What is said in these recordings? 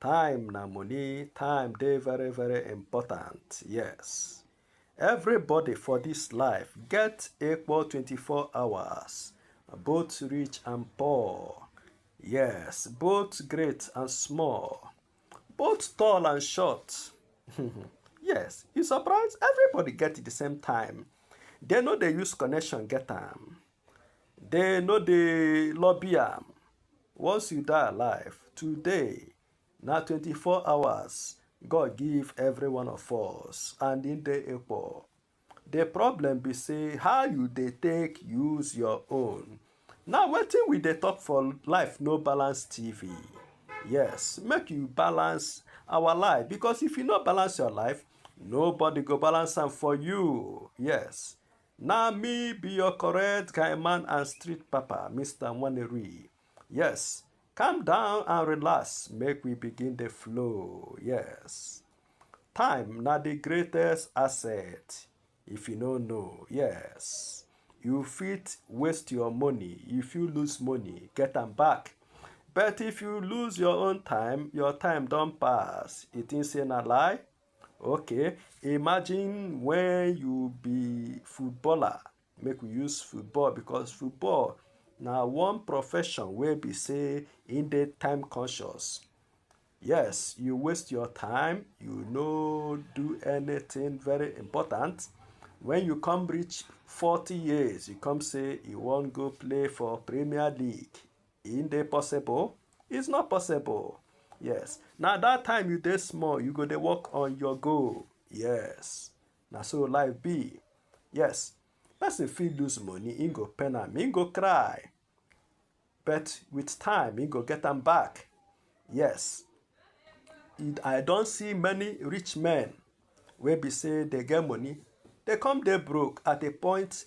Time na money, time dey very very important, yes. Everybody for this life get equal 24 hours, both rich and poor, yes, both great and small, both tall and short. yes, you surprise everybody get the same time. They no dey use connection get am. They no dey lobby am. Once you die alive, today na 24 hours God give every one of us and e dey equal. The problem be say how you dey take use your own. Now wetin we dey talk for life no balance TV. Yes, make you balance our life because if you no balance your life, nobody go balance am for you. Yes, Na me be your correct guy man and street papa, Mr. Nwaneri. Yes, calm down and relax, make we begin the flow. Yes. Time na the greatest asset. If you no know, yes. You fit waste your money, if you lose money, get am back. But if you lose your own time, your time don pass. You think say na lie? Okay, imagine when you be footballer, make we use football because football na one profession wey be say e dey time conscious. Yes, you waste your time, you no do anything very important. When you come reach forty years, you come say you wan go play for Premier League. e dey possible it's not possible yes na that time you dey small you go dey work on your goal yes na so life be yes person fit lose money he go pain am he go cry but with time he go get am back yes i don see many rich men wey be say dey get money dey come dey broke at a point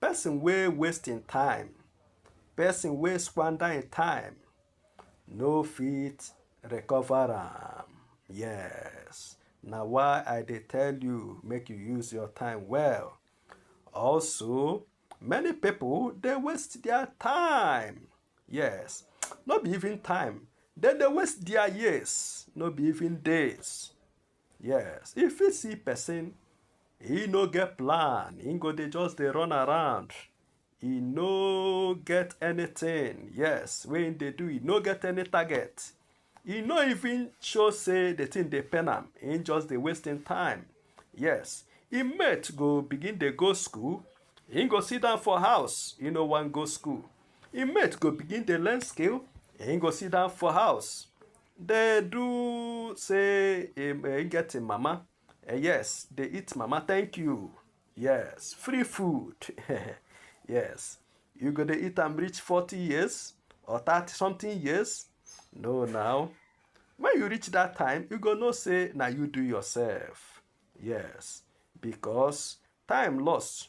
Person wey waste im time, person wey squander im time no fit recover am. Yes, na why I dey tell you make you use your time well. Also, many people dey waste their time. Yes, no be even time, dem dey waste their years, no be even days. Yes, if you see person, he no get plan, he go dey just dey run around. He no get anything, yes, wey he dey do, he no get any target. He no even show say the thing dey pain am, he just dey waste him time. Yes, him mate go begin dey go school, he go sit down for house, he no wan go school. Him mate go begin dey learn skill, he go sit down for house. They do say um, uh, get a mama. Uh, yes, they eat mama. Thank you. Yes, free food. yes, you go to eat and reach 40 years or 30 something years. No, now. When you reach that time, you go no say, now you do yourself. Yes, because time lost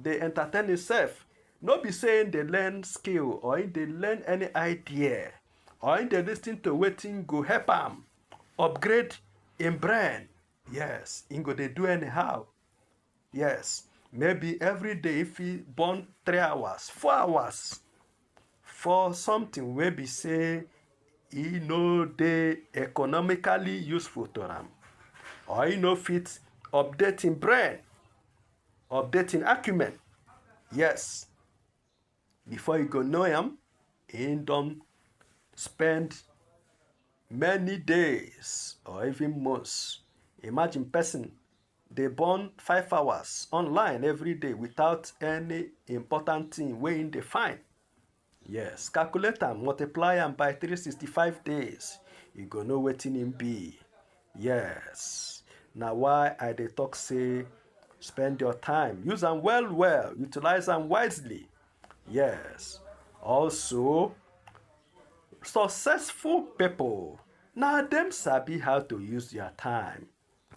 dey entertain himself no be say him dey learn skill or him dey learn any idea or him dey lis ten to wetin go help am upgrade him brain yes him go dey do anyhow yes maybe every day if he burn three hours four hours for something wey be say e no dey economically useful to am or e no fit update im brain update im acumen yes before you go know am he don spend many days or even months imagine person dey burn five hours online every day without any important thing wey him dey find yes calculate am multiply am by 365 days you go know wetin him be yes na why i dey talk say spend your time use am well well utilize am wisely yes also successful people na dem sabi how to use their time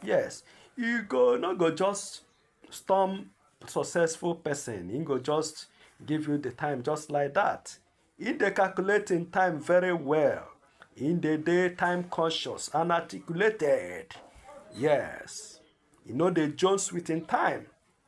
Yes, you go no go just storm successful person, he go just give you the time just like that. He dey calculate im time very well. He dey dey time conscious and articulated. Yes, he no dey jones with im time.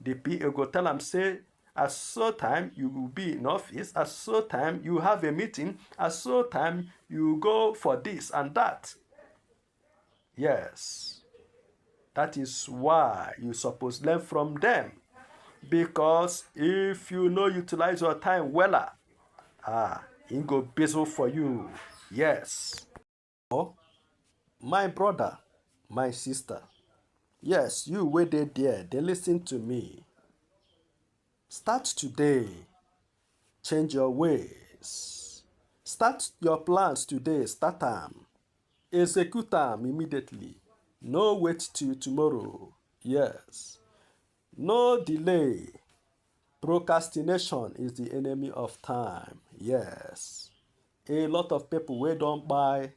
The PA go tell am say as so time you go be in office as so time you have a meeting as so time you go for this and that yes that is why you suppose learn from them because if you no utilize your time wella ah e go busy for you yes Or my brother, my sister, yes, you wey dey there, dey listen to me. Start today, change your ways. Start your plans today, start am. Execute am immediately. No wait till tomorrow. Yes. No delay, procrastination is the enemy of time. Yes, a lot of people wey don buy,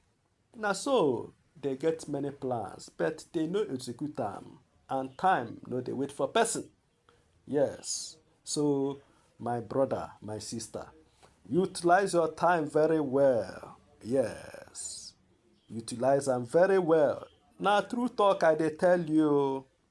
na so they get many plans but they no execute am and time no dey wait for person. Yes, so my brother, my sister, utilize your time very well. Yes, utilize am very well. Na true talk I dey tell you.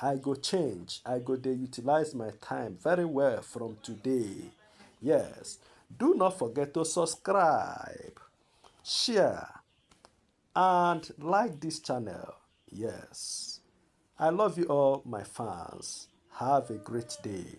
I go change, I go dey utilize my time very well from today. Yes, do not forget to subscribe, share and like this channel. Yes, I love you all my fans. Have a great day.